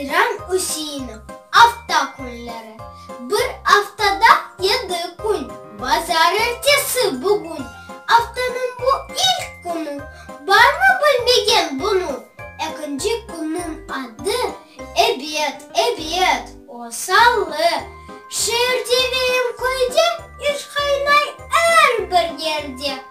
Seyran Üseinov, Afta künleri, bir aftada yedi kün, bazar ertesi, bugün, aftanıñ bu ilk künü, barmı bilmegen bunı? Ekinci künniñ adı, ebet, ebet, o, salı, şeerde ve em köyde, iş qaynay er bir yerde.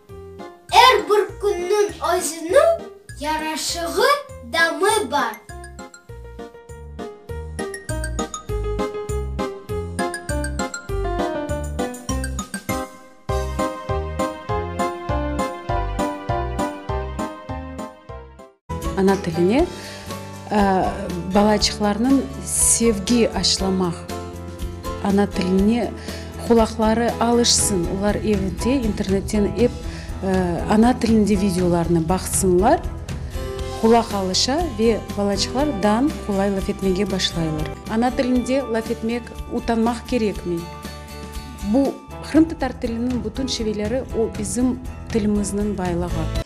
Er bir künniñ özüniñ yaraşığı, damı bar. Ana tiline balaçıqlarnıñ sevgi aşlamaq, ana tiline qulaqları alışsın, olar evde internetten ep ana tilinde videolarnı baqsınlar, qulaq alışa ve balaçıqlar dan qolay laf etmege başlaylar. Ana tilinde laf etmek utanmaq kerekmey. Bu, qırımtatar tiliniñ bütün şiveleri, o bizim tilimizniñ baylığı.